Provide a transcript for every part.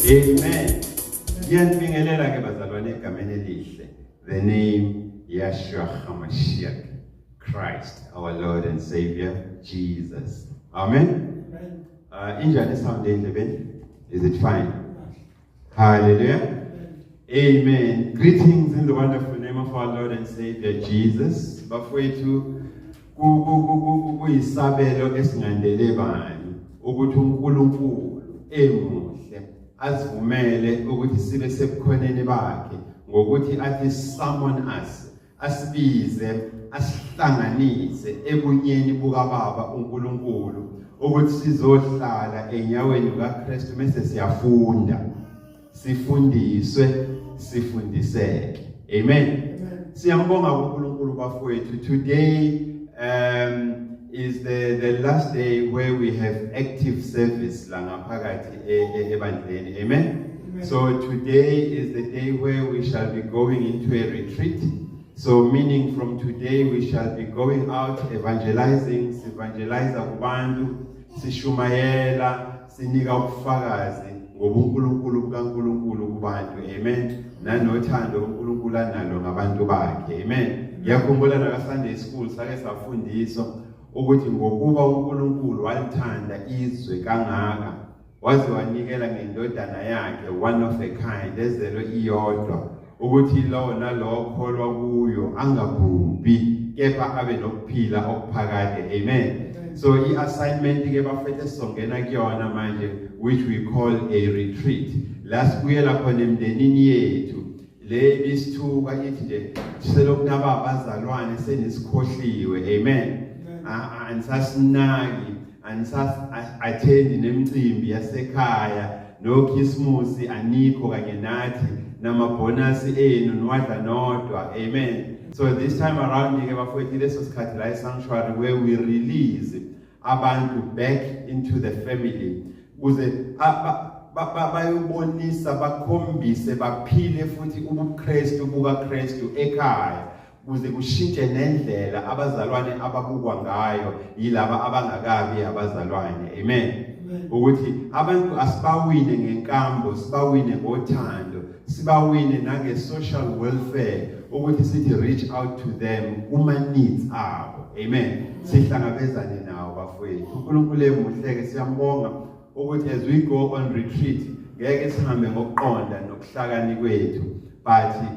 Amen. Ngiyanibingelela ke bazalwane egameni elihle. The name Yeshua HaMashiach, Christ, our Lord and Savior, Jesus. Amen. Amen. Uh, injani sound endlebeni? Is it fine? Hallelujah. Amen. Greetings in the wonderful name of our Lord and Savior Jesus. Bafowethu kuyisabelo esingandele bani ukuthi uNkulunkulu emuhle asivumele ukuthi sibe sebukhoneni bakhe ngokuthi athi summon us asibize asihlanganise ebunyeni bukababa uNkulunkulu ukuthi sizohlala enyaweni kaKristu mase siyafunda sifundiswe sifundiseke amen siyambonga uNkulunkulu bafowethu today um is the the last day where we have active service la ngaphakathi e, e, ebandleni amen So today is the day where we shall be going into a retreat. So meaning from today we shall be going out evangelizing, sivangeliza kubantu, sishumayela, sinika ubufakazi ngobuNkulunkulu bukaNkulunkulu kubantu. Amen. Nanothando uNkulunkulu analo ngabantu bakhe. Amen. Ngiyakhumbula naka Sunday school sake safundiswa ukuthi ngokuba uNkulunkulu walithanda izwe kangaka waze wanikela ngendodana yakhe one of a kind ezelwe iyodwa ukuthi lowo nalowo kholwa kuyo angabhubhi kepha abe nokuphila okuphakade amen so i-assignment ke bafethu esizongena kuyona manje which we call a retreat la sibuyela khona emndenini yethu le ibisithuka ithi nje selokhu naba abazalwane senisikhohliwe amen andisasinaki anisas-athendi nemicimbi yasekhaya nokhisimusi anikho kanye nathi namabhonasi enu niwadla nodwa amen so this time around-ke bafowethu leso sikhathi la esanctuary where we release abantu back into the family kuze bayobonisa bakhombise baphile futhi ubukristu bukakristu ekhaya kuze kushintshe nendlela abazalwane ababukwa ngayo yilaba abangakabi abazalwane amen ukuthi abantu asibawine ngenkambo sibawine ngothando sibawine nange social welfare ukuthi sithi reach out to them kuma needs abo amen sihlangabezane nawo bafowethu uNkulunkulu emuhleke siyambonga ukuthi as we go on retreat ngeke sihambe ngokuqonda nokuhlakani kwethu but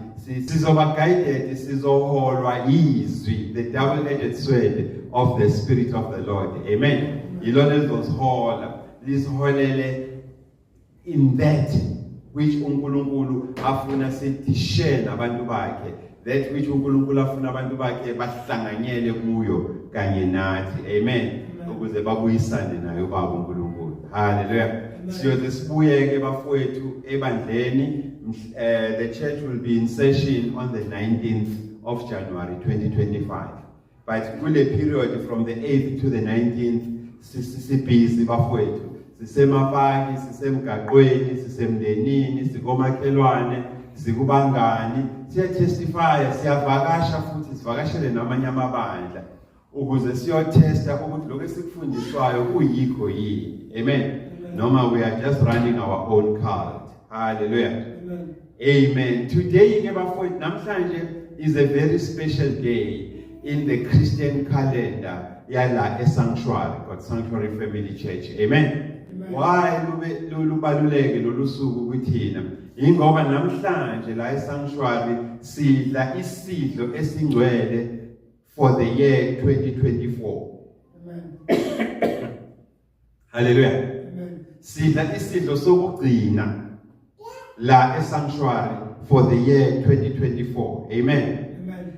sizoba guided sizoholwa yizwi the double edged sword of the spirit of the lord amen yilona elizosihola lisiholele in that which uNkulunkulu afuna sidishele abantu bakhe That which uNkulunkulu afuna abantu bakhe bahlanganyele kuyo kanye nathi. Amen. Ukuze babuyisane naye uBaba uNkulunkulu. Hallelujah. Siyoze sibuye ke bafowethu ebandleni. Uh, the church will be in session on the 19th of January 2025. but kule period from the 8th to the 19th sibhizi bafowethu sisemapaki sisemgaqweni sisemndenini sikomakhelwane sikubangani siyatestifya siyavakasha futhi sivakashele namanye amabandla ukuze siyothesta ukuthi lokho esikufundiswayo kuyikho yini amen noma we are just running our own cult hallelujah Amen. Today ke bafowethu namhlanje is a very special day in the Christian calendar yala esanctuary God Sanctuary Family Church. Amen. Why lubaluleke lolu suku kuthina? Ingoba namhlanje la esanctuary sidla isidlo esingcwele for the year 2024. Amen. Haleluya. Sidla isidlo sokugcina la esanctuary for the year 2024. Amen.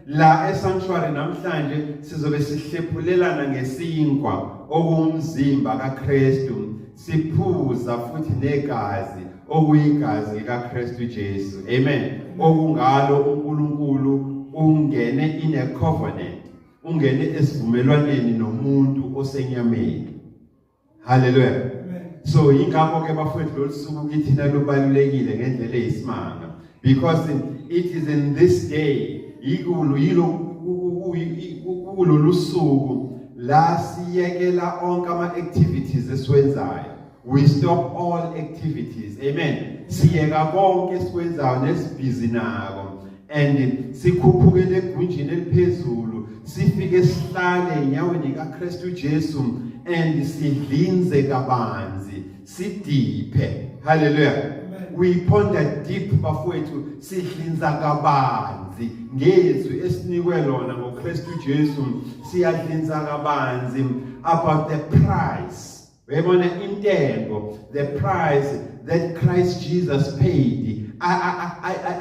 La esanctuary namhlanje sizobe sihlephulelana ngesinkwa okumzimba kaKristu siphuza futhi negazi okuyigazi likaKristu Jesu. Amen. Okungalo uNkulunkulu ungene in a covenant ungene esivumelwaneni nomuntu osenyameni haleluya so yingakho ke bafowethu lolusuku kithina lubalulekile ngendlela eyisimanga because it is in this day yikulu yilo kulolu suku la siyekela onke ama activities esiwenzayo We stop all activities. Amen. Siyeka konke esikwenzayo nesibhizi nako and sikhuphukele egunjini eliphezulu sifike sihlale enyaweni kaKristu Jesu and sidlinze kabanzi sidiphe. Hallelujah. We ponder deep bafowethu sidlinza kabanzi ngezwi esinikwe lona ngoKristu Jesu siyadlinza kabanzi about the price uyayibona intengo the price that Christ Jesus paid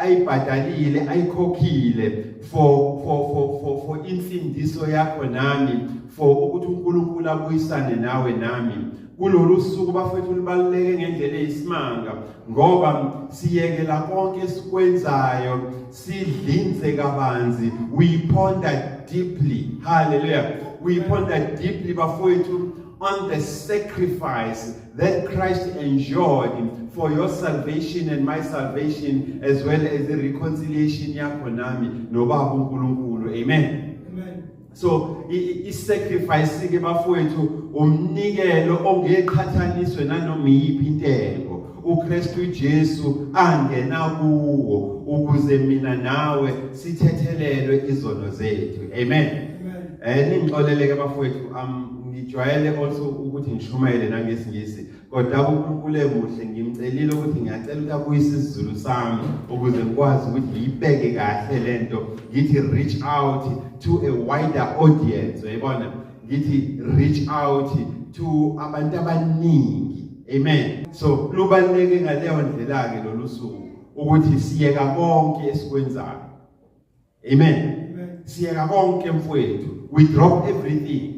ayibhadalile ayikhokhile for for for for for insindiso yakho nami for ukuthi uNkulunkulu abuyisane nawe nami kulolu suku bafethu libaluleke ngendlela eyisimanga ngoba siyekela konke esikwenzayo sidlinze kabanzi we ponder deeply hallelujah we ponder deeply bafethu on the sacrifice that Christ enjoyed for your salvation and my salvation as well as the reconciliation yakho nami nobaba uNkulunkulu amen amen so i-sacrifice ke bafowethu umnikelo ongeqhathaniswe nanoma iyiphi intengo uKristu Jesu angena kuwo ukuze mina nawe sithethelelwe izono zethu amen eh ningixoleleke bafowethu ngijwayele also ukuthi ngishumayele nangesingisi kodwa uNkulunkulu emuhle ngimcelile ukuthi ngiyacela ukuthi abuyise isiZulu sami ukuze ngikwazi ukuthi ngiyibeke kahle lento ngithi reach out to a wider audience uyabona ngithi reach out to abantu abaningi amen so lubaluleke ngaleyo ndlela ke lolu suku ukuthi siyeka konke esikwenzayo amen siyeka konke mfowethu we drop everything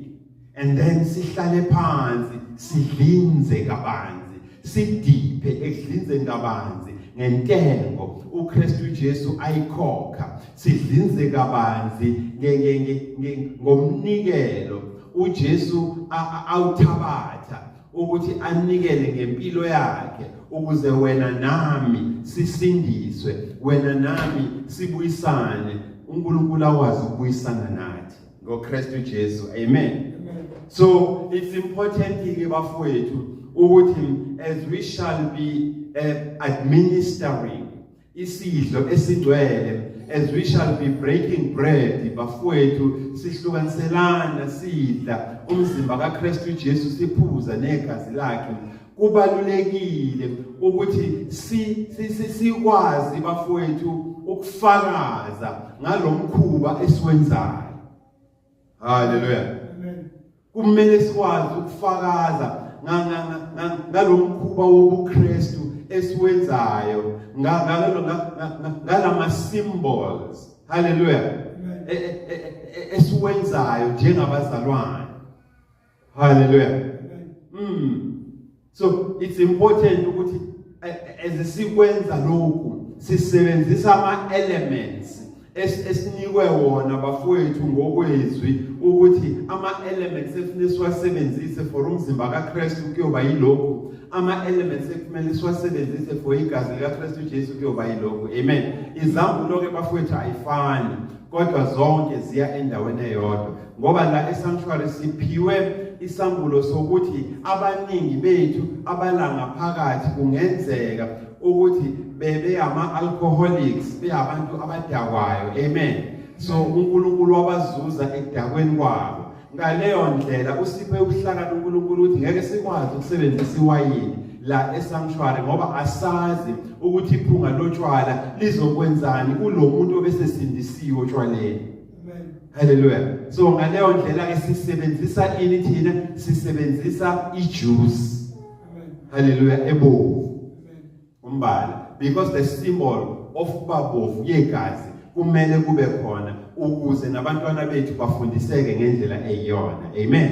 and then sihlale phansi sidlinze kabanzi sidiphe ekudlinzeni kabanzi ngentengo uKristu Jesu ayikhokha sidlinze kabanzi ngomnikelo uJesu awuthabatha ukuthi anikele ngempilo yakhe ukuze wena nami sisindiswe wena nami sibuyisane uNkulunkulu akwazi ukubuyisana nathi ngoKristu Jesu amen so it's important ke bafowethu ukuthi as we shall be uh, administering isidlo esingcwele as we shall be breaking bread bafowethu sihlukaniselana sidla umzimba kaKristu Jesu siphuza negazi lakhe kubalulekile ukuthi si sikwazi bafowethu ukufakaza ngalomkhuba esiwenzayo haleluya kumele sikwazi ukufakaza ngalomkhuba wobuKristu esiwenzayo ngalama symbols haleluya e, e, e, esiwenzayo njengabazalwane Hallelujah. Mm. So it's important ukuthi ezisikwenza lokhu sisebenzisa ama elements esinikwe wona bafowethu ngokwezwi ukuthi ama elements efuneka siwasebenzise for umzimba kaKristu kuyoba yilokhu ama elements ekumele siwasebenzise for igazi likaKristu Jesu kuyoba yilokhu amen izambulo ke bafowethu ayifani kodwa zonke ziya endaweni eyodwa ngoba la esanctuary siphiwe isambulo sokuthi abaningi bethu abalangaphakathi kungenzeka ukuthi bebe ama alcoholics beyabantu abadakwayo amen so uNkulunkulu wabazuza ekudakweni kwabo ngaleyo ndlela usiphe ubuhlakani uNkulunkulu ukuthi ngeke sikwazi ukusebenzisa iwayini la esanctuary ngoba asazi ukuthi iphunga lotshwala lizokwenzani kulo muntu obesesindisiwe otshwaleni Hallelujah. So ngaleyo ndlela ke sisebenzisa ini thina? Sisebenzisa ijuice. Hallelujah ebovu. Umbala because the symbol of babovu yegazi kumele kube khona ukuze nabantwana bethu bafundiseke ngendlela eyiyona. Amen.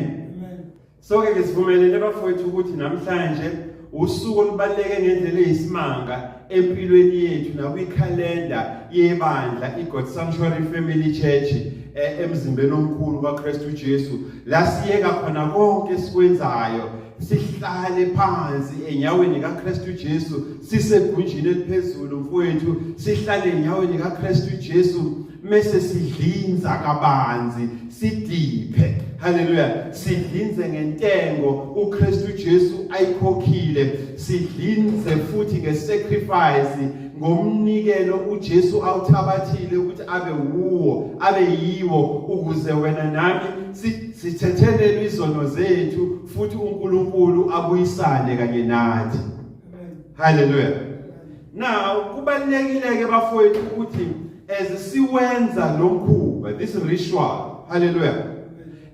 Soke ke sivumelene bafowethu ukuthi namhlanje usuku olubaluleke ngendlela eyisimanga empilweni yethu nakwikhalenda yebandla iGod Sanctuary Family Church eh, emzimbeni omkhulu kaKristu Jesu la siyeka khona konke esikwenzayo sihlale phansi enyaweni kaKristu Jesu sisegunjini eliphezulu mfowethu sihlale enyaweni kaKristu Jesu mese sidlinza kabanzi sidiphe haleluya sidlinze ngentengo uKristu Jesu ayikhokhile sidlinze futhi ngesacrifice ngomnikelo uJesu awuthabathile ukuthi abe wuwo abe yiwo ukuze wena nami sithethelele izono zethu futhi uNkulunkulu abuyisane kanye nathi haleluya now kubalekile ke bafowethu ukuthi as siwenza lo mkhuba this ritual haleluya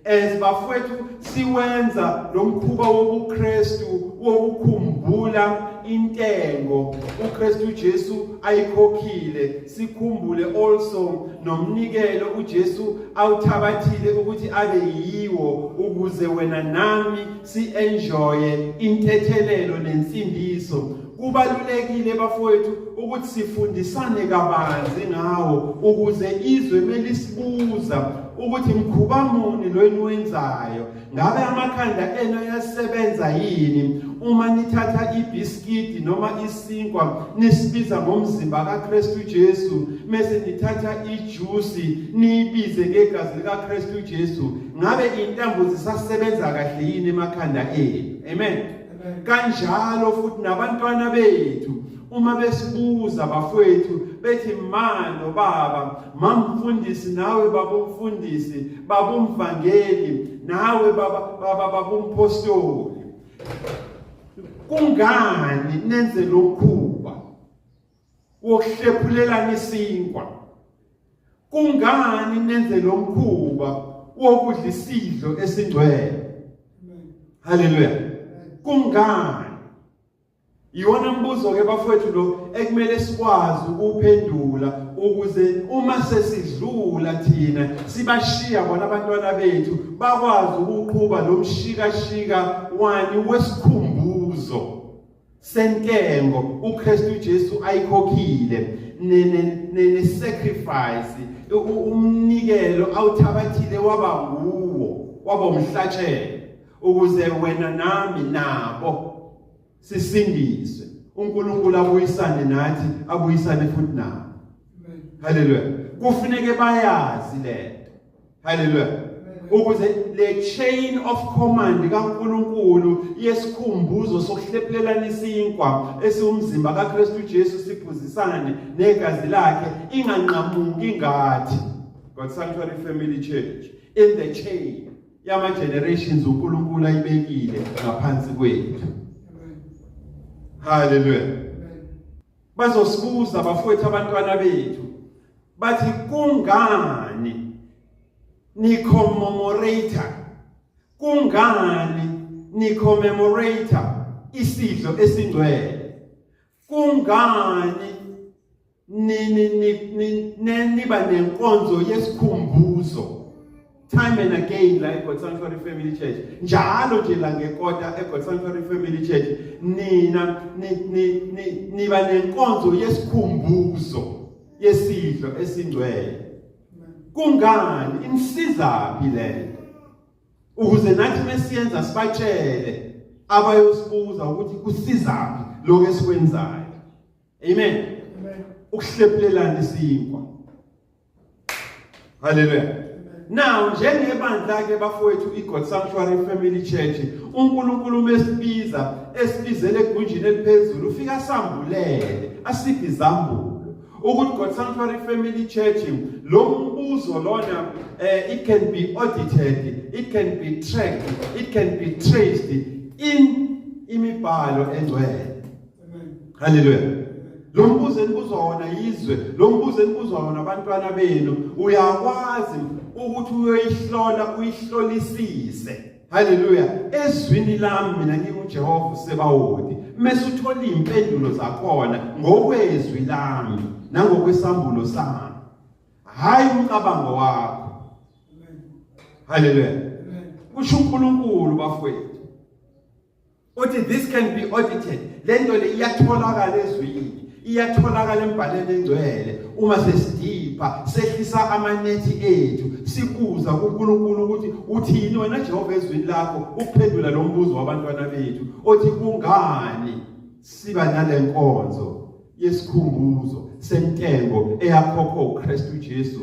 as bafowethu siwenza lo mkhuba wobuKristu wokukhumbula intengo uKristu Jesu ayikhokhile sikhumbule also nomnikelo uJesu awuthabathile ukuthi abe yiwo ukuze wena nami si-enjoye intethelelo nensindiso kubalulekile bafowethu ukuthi sifundisane kabanzi ngawo ukuze izwe melisibuza ukuthi mkhuba muni lo eniwenzayo ngabe amakhanda enu ayasebenza yini uma nithatha ibiskidi noma isinkwa nisibiza ngomzimba kaKristu Jesu mese nithatha ijuice niyibize ngegazi likaKristu Jesu ngabe intambo zisasebenza kahle yini emakhanda enu amen kanjalo futhi nabantwana bethu uma besibuza bafowethu bethi ma nobaba mamfundisi nawe babumfundisi babumvangeli nawe baba baba babumpostoli kungani nenze lokhu wokuhlephulelana isinkwa kungani nenze lo mkhuba wokudla isidlo esingcwele haleluya kungani iwona mbuzo ke bafowethu lo ekumele sikwazi ukuphendula ukuze uma sesidlula thina sibashiya bona abantwana bethu bakwazi ukuqhuba lo mshikashika wani wesikhumbuzo sentengo uKristu Jesu ayikhokhile ne sacrifice umnikelo awuthabathile waba nguwo waba umhlatshelo ukuze wena nami nabo sisindiswe uNkulunkulu abuyisane nathi abuyisane futhi nabo haleluya kufuneke bayazi lento haleluya ukuze le chain of command kaNkuluNkulu yesikhumbuzo sokuhlephelelana isinkwa esiwumzimba kaKristu Jesu siphuzisane negazi lakhe inganqamuki ngathi God Sanctuary Family Church in the chain yama generations uNkulunkulu ayibekile ngaphansi kwethu haleluya Bazosibuza bafowethu abantwana bethu bathi kungani ni commemorator kungani ni commemorator isidlo esingcwele kungani nini niba nenkonzo yesikhumbuzo time and again la eGod Sanctuary Family Church njalo nje la ngekota eGod Sanctuary Family Church nina niba nenkonzo yesikhumbuzo yesidlo esingcwele kungani inisizaphi lento ukuze nathi mesiyenza sibatshele abayosibuza ukuthi kusizaphi lokho esikwenzayo amen ukuhlephulelana isinkwa Hallelujah. Now njengebandla ke bafowethu iGod Sanctuary Family Church uNkulunkulu mesibiza esibizele egunjini eliphezulu ufika sambulele asiphi izambulo ukuthi God Sanctuary Family Church lo mbuzo lona eh, it can be audited it can be tracked it can be traced in imibhalo engcwele haleluya lo mbuzo enibuzwa wona yizwe lo mbuzo enibuzwa wona abantwana benu uyakwazi ukuthi uyoyihlola uyihlolisise haleluya ezwini lami mina ngiwujehova usebawodi mese uthola iy'mpendulo zakhona ngokwezwi lami nangokwesambulo sami hhayi umcabango wakho haleluya kusho unkulunkulu bafowethu uthi this can be audited le nto le iyatholakala ezwini iyatholakala embhaleni engcwele uma sesidipha sehlisa amanethi ethu sibuza kuNkulunkulu ukuthi uthini wena Jehova ezwini lakho ukuphendula lo mbuzo wabantwana bethu othi kungani siba nalenkonzo yesikhumbuzo sentengo eyakhokhwa uKristu Jesu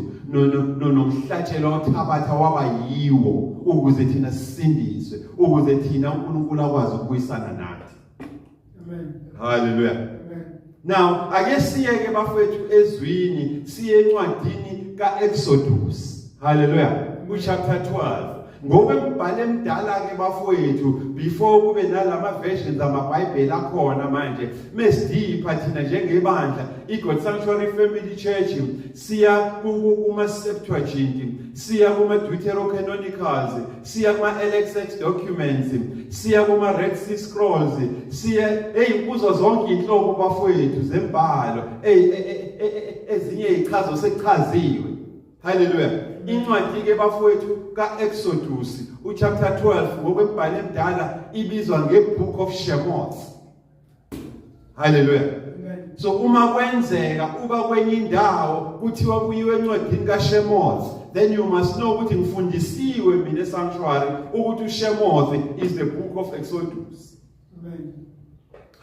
nomhlatshelo othabatha waba yiwo ukuze thina sisindiswe ukuze thina uNkulunkulu akwazi ukubuyisana nathi amen haleluya amen now ake siye ke bafethu ezwini siye encwadini kaExodus haleluya ku chapter 12 Ngoba umbhalo emdala ke bafowethu before kube nalama versions amaBhayibheli akhona manje mesidipha thina njengebandla iGod Sanctuary Family Church siya kuma Septuagint siya kuma Deuterocanonicals siya kuma LXX documents siya kuma Red Sea Scrolls siya hey kuzo zonke inhlobo bafowethu zembhalo hey e, e, e, ezinye ichazo sekuchaziwe Haleluya. Incwadi ke bafowethu kaExodus uchapter 12 ngokwembhalo emdala ibizwa ngebook of Shemot. Haleluya. So uma kwenzeka uba kwenye indawo kuthiwa kuyiwe encwadini kaShemot then you must know ukuthi ngifundisiwe mina sanctuary ukuthi uShemot is the book of Exodus.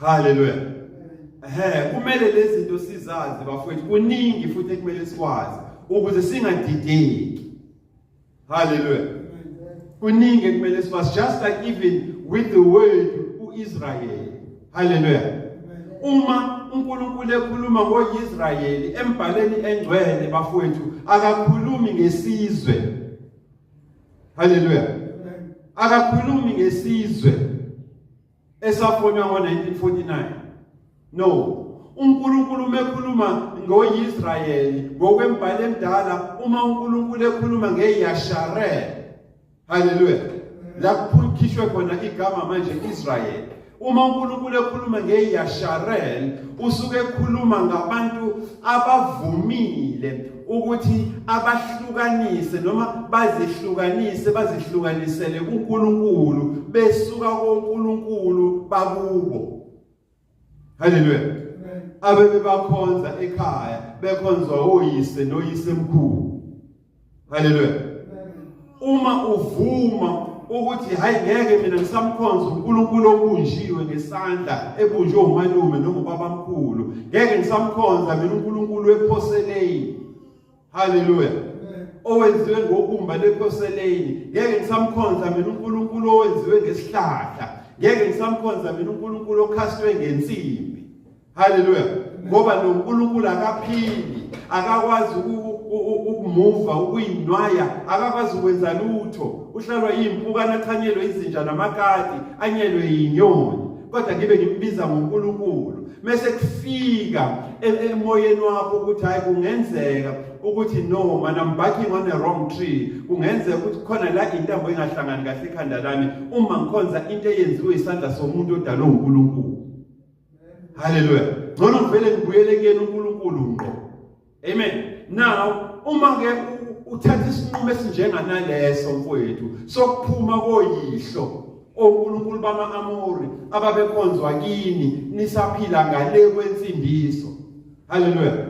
Haleluya. Ehe, kumele lezi zinto sizazi bafowethu. Kuningi futhi kumele sikwazi ukuze singadideki. Haleluya. Kuningi kumele sikwazi just like even with the word uIsrael. Haleluya. Uma uNkulunkulu ekhuluma ngoIsrayeli embhaleni engcwele bafowethu akakhulumi ngesizwe Hallelujah. Akakhulumi ngesizwe esafonywa ngo-1949. No. uNkulunkulu mekhuluma ngoIsrayeli ngokwembhalo emdala uma uNkulunkulu ekhuluma ngeYasharel. Hallelujah. La kuphulkhishwe khona igama manje Israyeli. Uma uNkulunkulu ekhuluma ngeYasharel usuke ekhuluma ngabantu abavumile ukuthi abahlukanise noma bazihlukanise bazihlukanisele kuNkulunkulu besuka koNkulunkulu bakubo Haleluya abebebakhonza ekhaya bekhonzwa oyise noyisemkhulu haleluya uma uvuma ukuthi hayi ngeke mina ngisamkhonza uNkulunkulu obunjiwe ngesandla ebunjwe umalume noma ubabamkhulu ngeke ngisamkhonza mina uNkulunkulu ephoseleni haleluya owenziwe ngobumba lephoseleni ngeke ngisamkhonza mina uNkulunkulu owenziwe ngesihlahla ngeke ngisamkhonza mina uNkulunkulu okhastwe ngensimbi Haleluya. Ngoba noNkulunkulu akaphili, akakwazi ukumuva, ukuyinwaya, akakwazi ukwenza lutho. Uhlalwa izimpukana, athanyelwe izinja namakati, anyelwe inyoni. Kodwa ngibe ngimbiza ngoNkulunkulu. Mese kufika e, emoyeni wakho ukuthi hayi kungenzeka ukuthi no man I'm backing on a wrong tree kungenzeka ukuthi khona la intambo engahlangani kahle ekhanda lami uma ngikhonza into eyenziwe isandla somuntu odalwe uNkulunkulu Hallelujah. Ngcono ngivele ngibuyele kuyena uNkulunkulu ngqo. Amen. Now uma ke uthatha isinqumo esinjenganaleso mfowethu sokuphuma koyihlo oNkulunkulu bama-Amori ababekhonzwa kini nisaphila ngale kwensindiso Haleluya.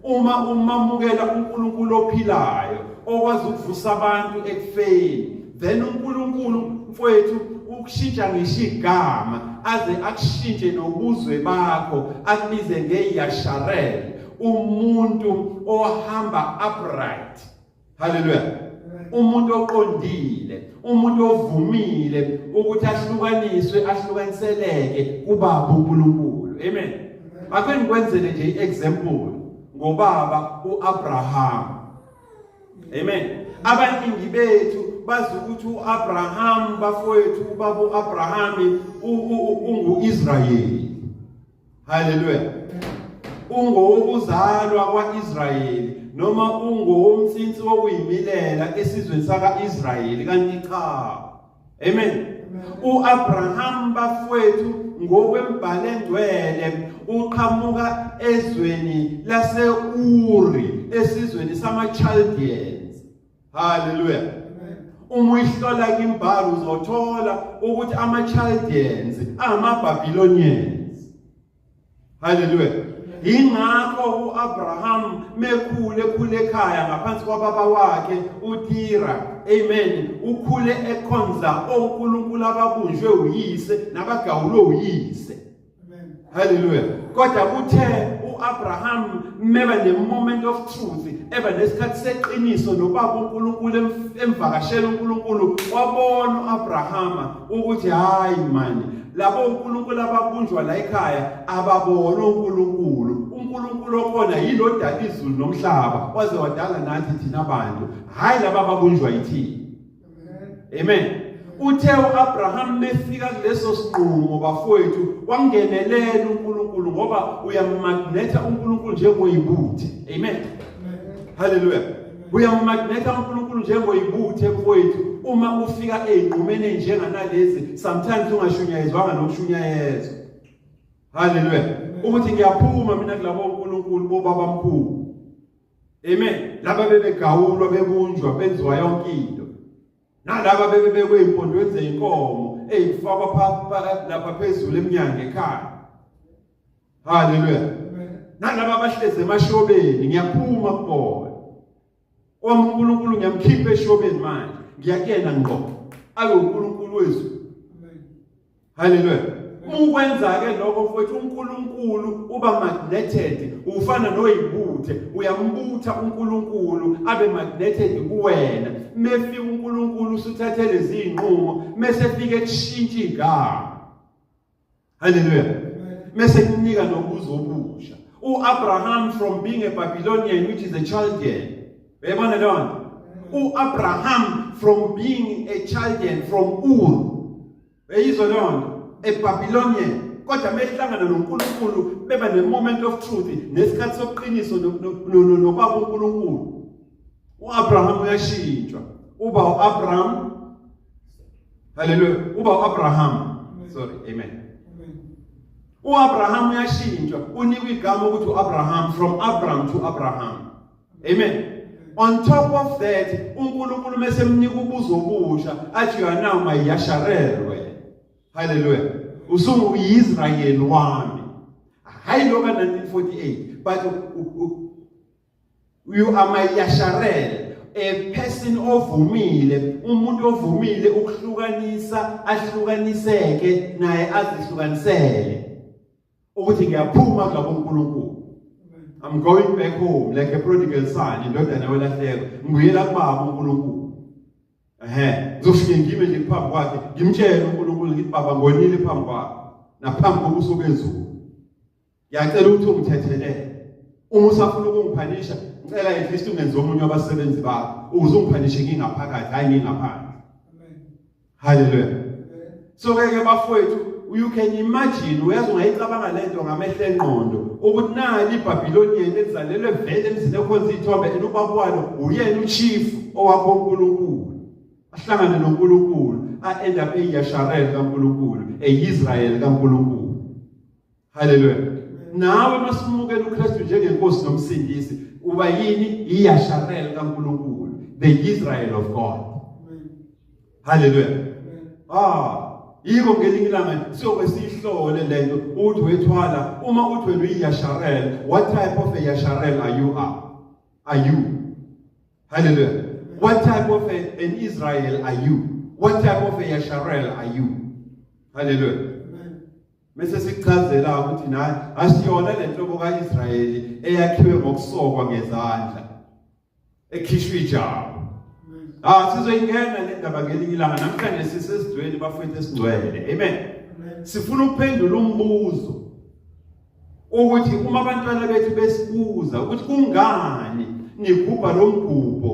Uma umamukela uNkulunkulu ophilayo okwazi ukuvusa abantu ekufeni, then uNkulunkulu mfowethu ukushintsha ngisho igama aze akushintshe nobuzwe bakho akubize ngeyasharel umuntu ohamba upright haleluya umuntu oqondile umuntu ovumile ukuthi ahlukaniswe ahlukaniseleke kubaba uNkulunkulu amen ake ngikwenzele nje iexample ngobaba uAbraham amen abaningi bethu bazi ukuthi uAbraham bafowethu ubaba uAbraham unguIsrayeli Haleluya. Ungowokuzalwa kwaIsrayeli noma ungowomtsinsi wokuyimilela esizweni sakaIsrayeli kanti cha. Amen. UAbraham bafwethu ngokwembhalo engcwele uqhamuka ezweni laseUri esizweni samaChaldean haleluya uma uyihlola imbhalo uzothola ukuthi ama-chaldeans angama-babylonians haleluya yingakho u-abraham mekhule ekhule ekhaya ngaphansi kwababa wakhe utira amen ukhule ekhonza onkulunkulu ababunjwe uyise nabagawulwe uyise Hallelujah. Kodwa kuthe uAbraham meba ne moment of truth, eba nesikhathi seqiniso nobaba uNkulunkulu emvakashela uNkulunkulu wabona uAbrahama ukuthi hayi manje labo uNkulunkulu ababunjwa la ekhaya ababona uNkulunkulu. uNkulunkulu okhona yilo odala izulu nomhlaba waze wadala nathi thina bantu. Hayi laba ababunjwa yithini. Amen. Uthe uAbraham mefika kuleso sinqumo bafowethu wangenelela uNkulunkulu ngoba uyamagnetha uNkulunkulu njengoyibuthe. Amen. Hallelujah. Uyamagnetha uNkulunkulu njengoyibuthe bafowethu uma ufika ezinqumeni njenganalezi sometimes ungashunyayezwanga nokushunyayezwa. Hallelujah. Ukuthi ngiyaphuma mina kulabo uNkulunkulu bobaba mkhulu. Amen. Laba bebegawulwa bekunjwa benziwa yonke into. Nalaba bebe bekweyimpondo zeinkomo eyifakwa phakathi lapha phezulu eminyango ekhaya. Hallelujah. Nalaba abahleze emashobeni ngiyaphuma kubona. Wami uNkulunkulu ngiyamkhipha eshobeni manje. Ngiyakuyena ngqo. Abe uNkulunkulu wezulu. Haleluya. Uma ukwenza ke lokho mfowethu uNkulunkulu uba magneted ufana noyibuthe uyambutha uNkulunkulu abe magneted kuwena mefika uNkulunkulu usuthathe lezi inqumo mesefika ekushintsha igama Haleluya. Mese kunika nobuzo obusha. UAbraham from being a Babylonian which is a Chaldean. Uyabona lona? UAbraham from being a Chaldean from Ur Beyizwe loo nto eBabilonian kodwa mehlangana noNkulunkulu beba ne-moment of truth nesikhathi sobuqiniso nobaba uNkulunkulu uAbraham uyashintshwa uba uAbraham haleluya uba uAbraham sorry amen uAbraham uyashintshwa unikwa igama ukuthi uAbraham from Abraham to Abraham amen on top of that uNkulunkulu mesemnika ubuzo obusha athi you are now my yasharelwe haleluya usungu uyiSrael wami hayi loka 1948 but you are my yasharel a person ovumile umuntu ovumile ukuhlukanisa ahlukaniseke naye azihlukanisele ukuthi ngiyaphuma kulabo uNkulunkulu I'm going back home like a prodigal son indodana welahleko ngibuyela kubaba uNkulunkulu ehe ngizoshiya ngime nje phambi kwakhe ngimtshele uNkulunkulu ngithi baba ngonile phambi kwakhe naphambi kobuso bezulu ngiyacela ukuthi ungithethelele uma usafuna ukungiphanisha ngicela at least ungenze omunye wabasebenzi bakho ukuze ungiphanishe ngingaphakathi hayi ngingaphandle haleluya so ke ke bafowethu you can imagine uyazi ungayicabanga lento ngamehlo enqondo ukuthi nani iBabiloni yena ezalelwe vele emzini ekhonza ithombe and ubaba walo uyena uchief owakho uNkulunkulu ahlangane noNkulunkulu a end up eyasharel kaNkulunkulu eIsrael kaNkulunkulu Haleluya. Nawe masimukela uKristu njengenkosi nomsindisi, uba yini iyasharel kaNkulunkulu, the Israel of God. Haleluya. Ah, yiko ngelinye ilanga siyobe siyihlole lento uthi wethwala uma uthi wena uyiyasharel what type of a yasharel are you are are you hallelujah what type of a, an israel are you what type of a yasharel are you hallelujah Mese sikuchazela ukuthi naye asiyona le nhlobo kaIsrayeli eyakhiwe ngokusokwa ngezandla ekhishwa ijabo. Ah sizoyingena le ndaba ngelinye ilanga namhlanje sisesizweni bafethu esingcwele. Amen. Sifuna ukuphendula umbuzo ukuthi uma abantwana bethu besibuza ukuthi kungani nigubha lo mgubho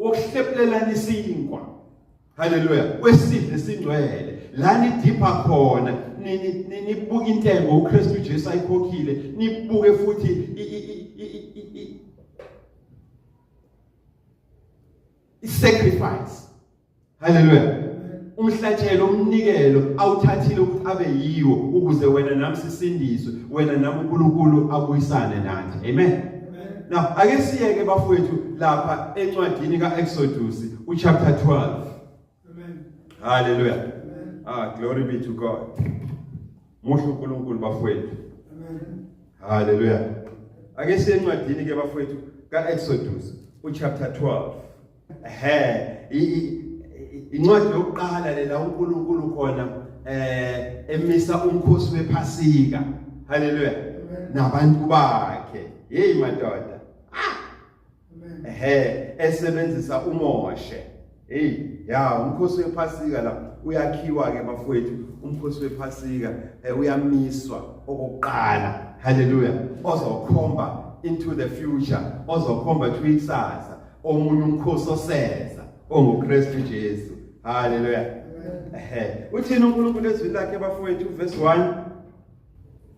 wokuhlephelelana isinkwa Haleluya. Kwesidlo esingcwele la nidipha khona nibuka intengo uKristu Jesu ayikhokhile nibuke futhi i-sacrifice haleluya umhlatshelo umnikelo awuthathile ukuthi abe yiwo ukuze wena nami sisindiswe wena nami uNkulunkulu abuyisane nathi amen Now ake siyeke bafowethu lapha encwadini kaExodus uchapter 12. Amen. Hallelujah. Amen. Ah glory be to God. Muhle uNkulunkulu bafowethu. Amen. Hallelujah. Ake siye encwadini ke bafowethu kaExodus uchapter 12. ehe incwadi yokuqala lela uNkulunkulu khona eh emisa umkhosi wephasika haleluya nabantu bakhe hey madoda ah! ehe esebenzisa uMoshe hey ya umkhosi wephasika la uyakhiwa ke bafowethu umkhosi wephasika eh, uyamiswa okokuqala haleluya ozokhomba into the future ozokhomba to ikusasa omunye umkhosi osenza onguKristu Jesu haleluya ehe uthini uNkulunkulu ezwini lakhe bafowethu verse 1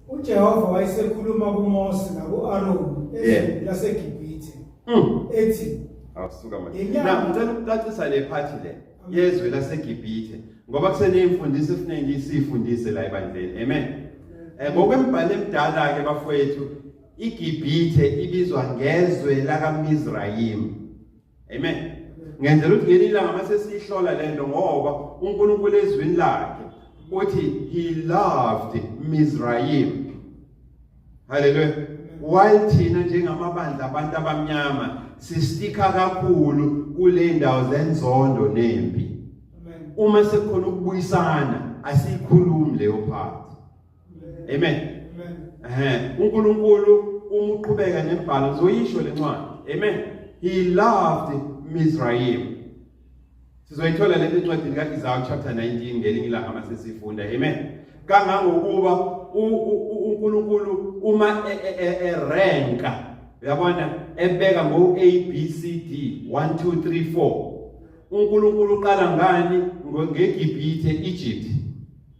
uJehova wayesekhuluma kuMose nakuAron ezweni laseGibhithe mm. ethi awusuka manje na ngicela ukucacisa le phathi le yezwe laseGibhithe ngoba kuseneyimfundiso efuneki sifundise la ebandleni amen eh ngokwembhalo emdala ke bafowethu IGibhithe ibizwa ngezwe lakaMizrayim. Amen. Ngenzela ukuthi ngelinye ilanga mase sihlola lento ngoba uNkulunkulu ezwini lakhe uthi he loved Mizrayim. Hallelujah. While thina njengamabandla abantu abamnyama sistika kakhulu kule ndawo zenzondo nempi. Uma sekukhona ukubuyisana asikhulumi leyo part. amen eh uNkulunkulu uma uqhubeka nembhalo uzoyisho lencwadi amen he loved Mizraim sizoyithola le ncwadi ka Isaiah chapter 19 ngelinye ilanga masesifunda amen kangangokuba uNkulunkulu uma erenka e, e, e, uyabona ebeka ngo A B C D 1 2 3 4 uNkulunkulu uqala ngani ngeGibhithe Egypt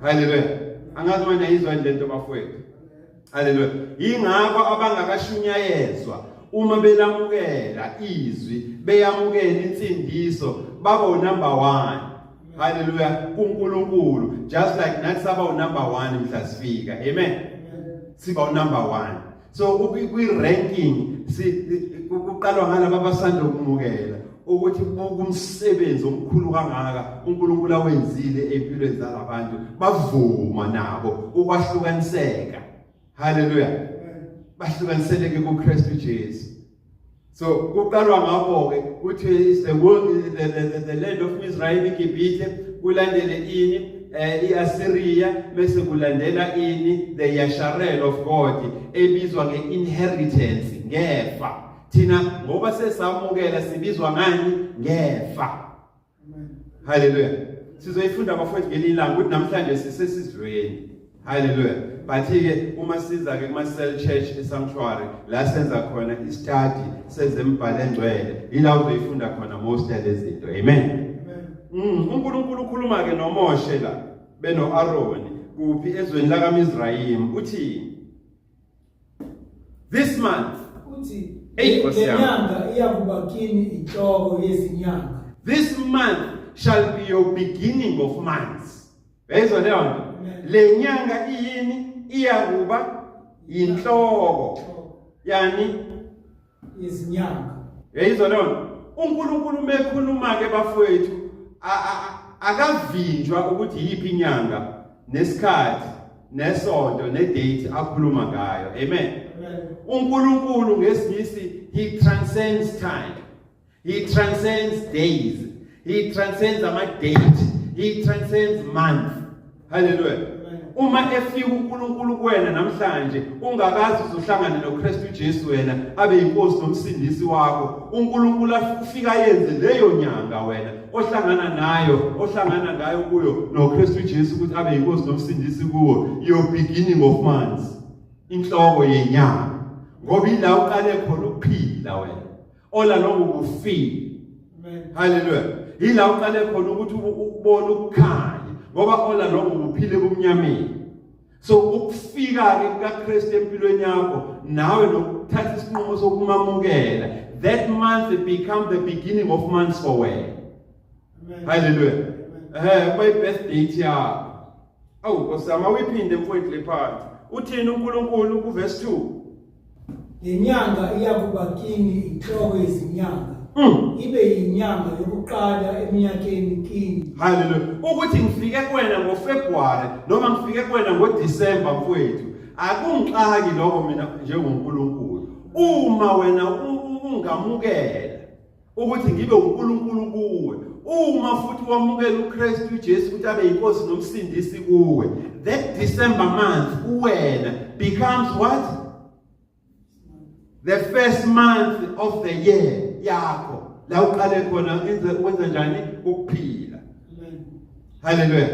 haleluya angazi wena yizwa nje lento bafowethu haleluya yingakho abangakashunyayezwa uma belamukela izwi beyamukela insindiso baba unumber 1 haleluya kuNkulunkulu just like nathi saba unumber 1 mhla sifika amen siba unumber 1 so kwi-ranking kuqalwa ngalaba abasanda ukumukela ukuthi buka umsebenzi omkhulu kangaka uNkulunkulu awenzile empilweni zalabantu bavuma nabo ukwahlukaniseka haleluya bahlukaniseleke kuKristu Jesu so kuqalwa ngakho-ke kuthi the world the, the, the, the land of israel igibhithe kulandele ini eh iAssyria bese kulandela ini the Yasharel of God ebizwa ngeinheritance ngefa thina ngoba sesamukela sibizwa ngani ngefa Hallelujah. Sizoyifunda bafowethu ngelinye ilanga ukuthi namhlanje sisesizweni. Hallelujah. Bathi-ke uma siza-ke kuma-cell church esanctuary la senza khona istadi sezembhalo engcwele yila uzoyifunda khona most yalezinto amen mm, unkulunkulu ukhuluma-ke nomoshe la beno-aroni kuphi ezweni lakamizrayimi uthini This month. Uthi lenyanga iyakuba kini inhloko yezinyanga. This month shall be your beginning of months. Bezwa leyo nto. Lenyanga iyini iyakuba inhloko. Yani yezinyanga yeyizwa leyo nto unkulunkulu uma ekhuluma-ke bafowethu akavinjwa ukuthi yiphi inyanga nesikhathi nesonto nedate akhuluma ngayo amen unkulunkulu ngesingisi he transcends time He transcends days. He transcends ama date. He transcends month. Hallelujah. Uma efika uNkulunkulu kuwena namhlanje ungakazi uzohlangana noKristu Jesu wena abe inkosi nomsindisi wakho uNkulunkulu afika yenze leyo nyanga wena ohlangana nayo ohlangana ngayo kuyo noKristu Jesu ukuthi abe inkosi nomsindisi kuwo your beginning of months inhloko yenyanga ngoba ila uqale khona ukuphila wena ola lokhu kufile haleluya yila uqale khona ukuthi ukubona ukukhanya ngoba ola lokhu kuphile kumnyameni so ukufika ke kukaKristu empilweni yakho nawe nokuthatha isinqumo sokumamukela that month it become the beginning of months for wena haleluya eh by birthday yakho awu kosama uyiphinde mfowethu lephansi uthini uNkulunkulu kuverse 2 Le nyanga iyakuba kini inhloko yezinyanga Mm. ibe yinyanga yokuqala eminyakeni kini Hallelujah. Ukuthi ngifike kuwena ngoFebruary noma ngifike kuwena ngoDecember mfowethu akungixaki lokho mina njengoNkulunkulu. Uma wena u- u- ungamukela ukuthi ngibe uNkulunkulu kuwe uma futhi wamukela uKristu uJesu ukuthi abe inkosi nomsindisi kuwe that December month uwena becomes what the first month of the year yakho la uqale khona wenza njani ukuphila haleluya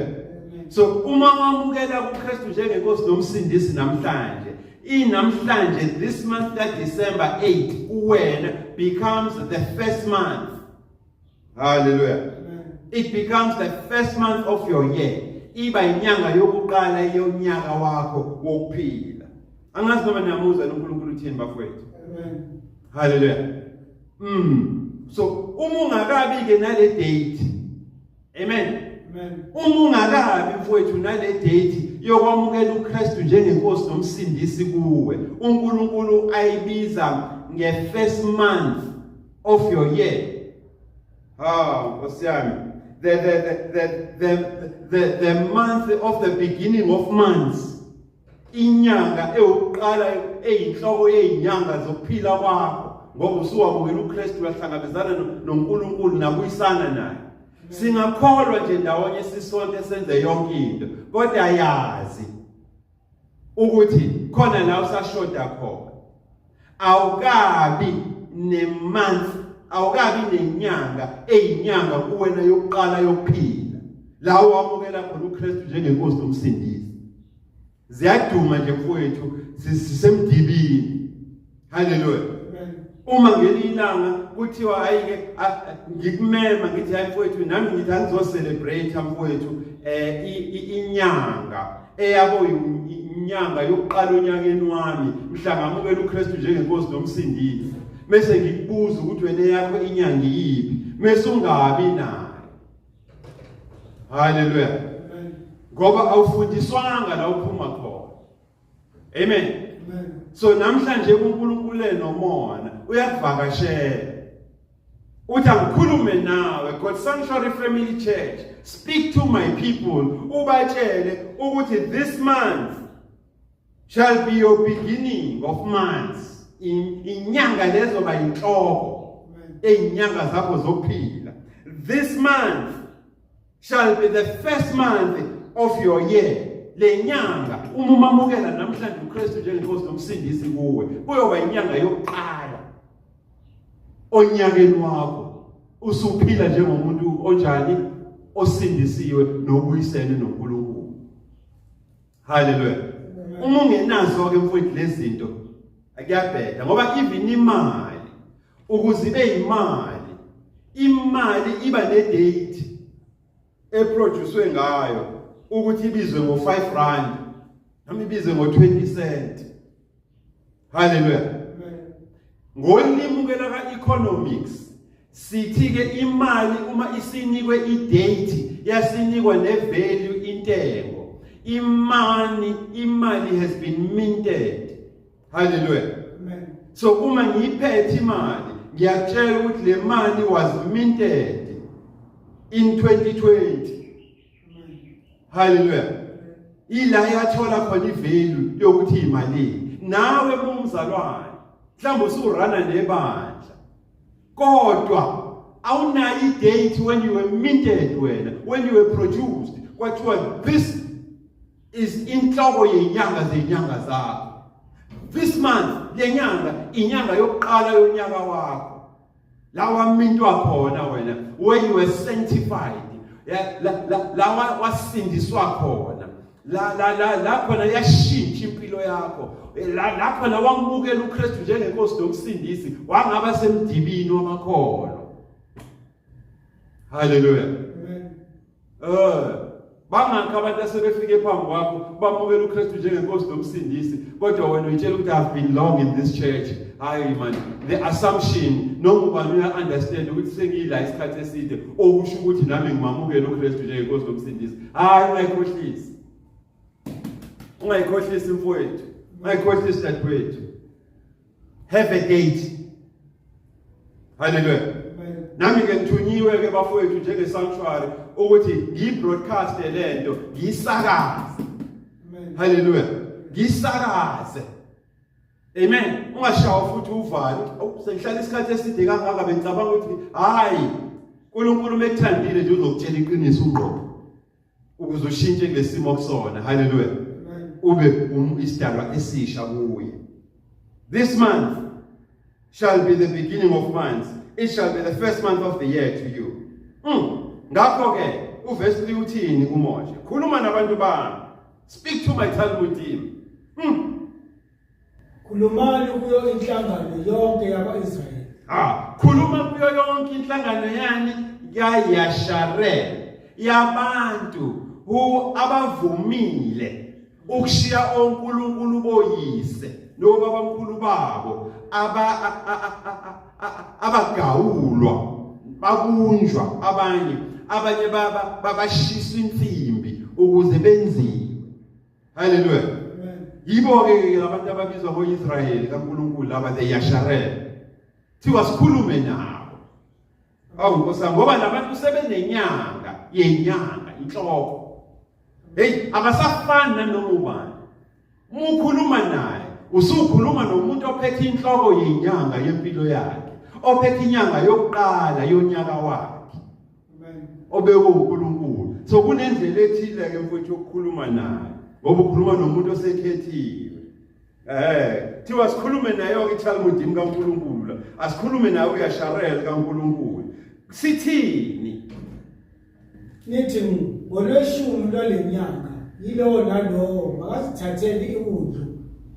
so uma wamukela uKristu njengenkosi nomsindisi namhlanje inamhlanje this month ka December 8 uwena becomes the first month haleluya it becomes the first month of your year iba inyanga yokuqala yonyaka wakho wokuphila angazi noma niyamuzwa uNkulunkulu uthini bafowethu amen haleluya mm so uma ungakabi ke nale date Amen. Amen. Uma ungakabi mfowethu nale date yokwamukela uKristu njengenkosi nomsindisi kuwe, uNkulunkulu ayibiza nge-first month of your year. Ah, Nkosi yami. The the the the the the, the month of the beginning of months. inyanga eyokuqala eyinhloko yezinyanga zokuphila kwakho ngoba usuwamukela uKristu uyahlangabezana noNkulunkulu nakuyisana naye singakholwa nje ndawonye sisonke senze yonke into kodwa yazi ukuthi khona la usashoda khona awukabi nemonth awukabi nenyanga eyinyanga kuwena yokuqala yokuphila lawo wamukela khona uKristu njengenkosi nomsindisi ziyaduma nje mfowethu sisemdibini haleluya uma ngelilanga kuthiwa hayike ngikumema ngithi hayi mfowethu nami ngithi angizocelebrate mfowethu eh inyanga eyabo inyanga yokuqala onyakeni wami mhla ngamukela uKristu njengenkosi nomsindisi mese ngikubuza ukuthi wena yakho inyanga iyiphi mese ungabi nayo haleluya ngoba awufundiswanga la uphuma khona amen so namhlanje uNkulunkulu enomona uyakuvakashela uthi angikhulume nawe god sanctuary family church speak to my people ubatshele ukuthi this month shall be your beginning of months inyanga lezo bayinhloko ezinyanga zakho zokuphila this month shall be the first month of your year lenyanga uma umamukela namhlanje uKristu njengenkosi nomsindisi kuwe kuyoba inyanga yokuqala onyakeni wakho usuphila njengomuntu onjani osindisiwe nobuyisene noNkulunkulu Hallelujah. Uma ungenazo ke mfowethu lezinto akuyabheda ngoba even imali ukuze ibe imali imali iba ne date eproducewe ngayo ukuthi ibizwe ngo 5 rand noma ibizwe ngo 20 cent haleluya ngolimu ke laka economics sithi ke imali uma isinikwe idate yasinikwa ne value intengo imani imali has been minted haleluya amen so uma ngiyiphethe imali ngiyatshela ukuthi le mali was minted in 2020 haleluya ila yathola khona ivelu yokuthi imalini nawe kumzalwane mhlawumbe usurana nebandla kodwa awunayo idate when you were minted wena when you were produced kwathiwa this is inhloko yenyanga zenyanga zakho this month lenyanga inyanga yokuqala yonyaka wakho la wamintwa khona wena when you were sanctified la wasindiswa khona la la la la khona yashintsha impilo yakho eh, la la khona wambukela uKristu njengenkosi nomsindisi wangaba semdibini wamakhono haleluya Eh, bangakho abantu asebefike phambi kwakho bamukela uKristu njengenkosi nomsindisi kodwa wena uyitshela ukuthi I've been long in this church. Hayi man, the assumption noma ubani uya understand ukuthi sengiyila isikhathi eside okusho ukuthi nami ngimamukela uKristu njengenkosi nomsindisi. Hayi ungayikhohlisi. Ungayikhohlisi mfowethu. Ungayikhohlisi dadewethu. have a date haleluya nami ke ngithunyiwe ke bafowethu njenge sanctuary ukuthi ngiyibroadcast lento ngiyisakaze haleluya ngisakaze amen ungashawa futhi uvalo sengihlala isikhathi eside kangaka bengicabanga ukuthi hayi uNkulunkulu mekuthandile nje uzokutshela iqiniso ungqobo ukuze ushintshe kulesimo kusona haleluya ube um, isidalwa esisha kuye this month shall be the beginning of months it shall be the first month of the year to you mm. ngakho ke uvesi liwuthini uMoshe khuluma nabantu bami speak to my talmud team mm. Khulumani kuyo inhlangano yonke yakwa-Israyeli. Ha, khuluma kuyo yonke inhlangano yani kaYasharel yabantu hu abavumile ukushiya onkulunkulu boyise nobabamkhulu babo aba abagawulwa babunjwa abanye abanye baba babashisa insimbi ukuze benzile Hallelujah. Yibo ke abantu ababizwa ngoIsrayeli kaNkulunkulu laba the Yasharel. Thiwa sikhulume nabo. Awu nkosa ngoba labantu sebenenyanga yenyanga inhloko. Hey abasafani nanoma ubani. Mukhuluma naye usukhuluma nomuntu ophethe inhloko yenyanga yempilo yakhe ophethe inyanga yokuqala yonyaka wakhe obekwe uNkulunkulu so kunendlela ethile ke mfowethu yokukhuluma naye ngoba ukhuluma nomuntu osekhethiwe eh thiwa sikhulume naye ke iTalmud kaNkulunkulu la asikhulume naye uyasharel kaNkulunkulu sithini nithi ngolweshumi lwalenyanga yilowo nalowo makazithathele iwundlu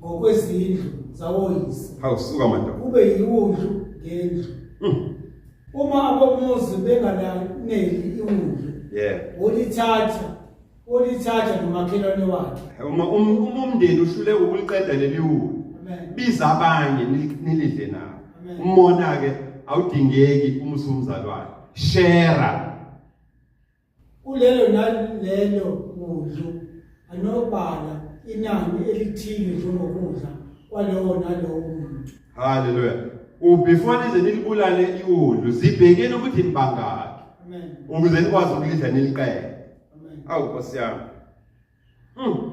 ngokwezindlu zawoyise hawusuka madoda kube yiwundlu ngendlu hmm. uma abomuzi bengalaneli iwundlu yeah olithatha olithatha nomakhelwane wakhe uma um- uma umndeni uhlule ukuliqeda leli wulu amen biza abanye ni- nilidle nabo Amen. umona-ke awudingeki uma usumzalwane shera Kulelo nalelo kudlu anobala inani elithile njengokudla kwalowo nalowo muntu. Hallelujah. Ubefore nize nilibulale iwulu zibhekeni ukuthi nibangaki Amen. ukuze nikwazi ukulidla niliqede. Amen. Awu Nkosi yami. Mm.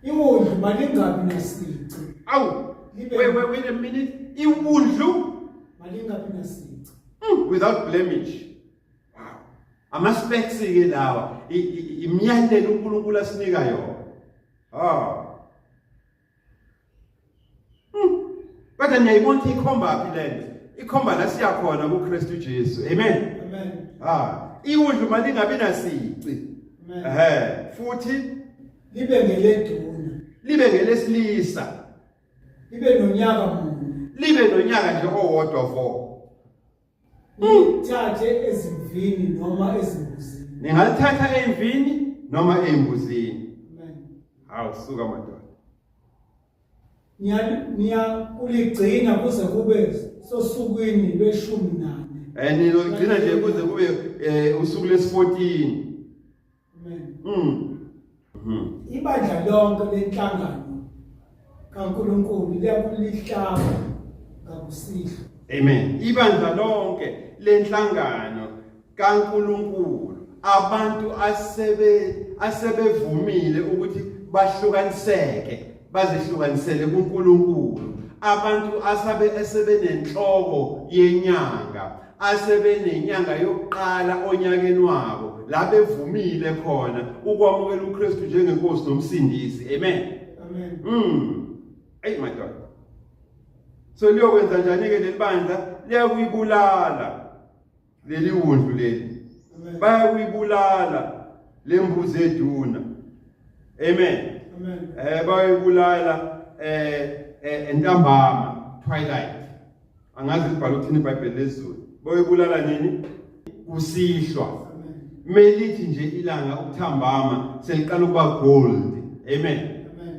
Iwundlu malingabi nasici. Awu. Libe- Wait, wait, wait a minute. Iwundlu Malingabi nasici. mm, without blemish. ama-specs ke lawa imiyalelo unkulunkulu asinika yona oh kodwa niyayibona ukuthi ikhomba phi le nto ikhomba la siya khona kuKristu Jesu amen amen ah iwudlu mali ngabe nasici ehe futhi libe ngeleduna libe ngelesilisa libe nonyaka munye libe nonyaka nje owodwa vo Nithathe ezimvini noma ezimbuzini. Ningalithatha emvini noma embuzini. Amen. Hawu suka madoda. niyakuligcina kuze kube sosukwini lweshumi nane um eh, niloligcina nje kuze kube um usuku lesi-fourteen Amen. Mm. Mm. Ibandla lonke lenhlangano kaNkuluNkulu liyakulihlaba ngakusihlwa. Amen. Ibandla lonke lenhlangano kaNkuluNkulu abantu asebe asebevumile ukuthi bahlukaniseke bazihlukanisele kuNkulunkulu abantu asabe esebenenhloko yenyanga asebenenyanga yokuqala onyakeni wabo la bevumile khona ukwamukela uKristu njengenkosi nomsindisi amen amen mm hey my god so liyokwenza njani ke lelibandla liyakuyibulala leli wundlu leli bayakuyibulala lembuzi eduna amen amen eh bayibulala eh, eh entambama twilight angazi libhala ukuthini ibhayibheli lezulu boyibulala nini kusihlwa melithi nje ilanga ukuthambama seliqala ukuba gold amen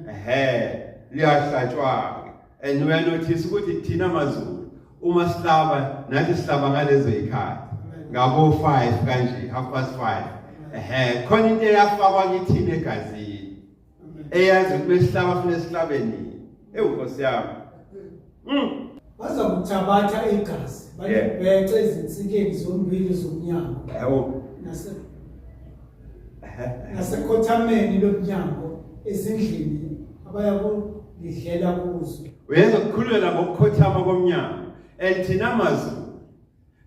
ehe liyahlatshwa-ke and uyanothisa ukuthi thina mazulu uma sihlaba nathi sihlaba ngalezo yikhathi ngabo 5 kanje half past 5 ehe khona into eyafakwa kithina egazini eyazi ukuthi besihlaba funa esihlabeni ewu nkosi yami mm. baza kuthabatha igazi balibhexe ezinsikeni zombili zomnyango yebo nasekhothameni lomnyango ezindlini abaya kulidlela kuzo uyenza ukukhulula ngokukhothama komnyango and thina mazulu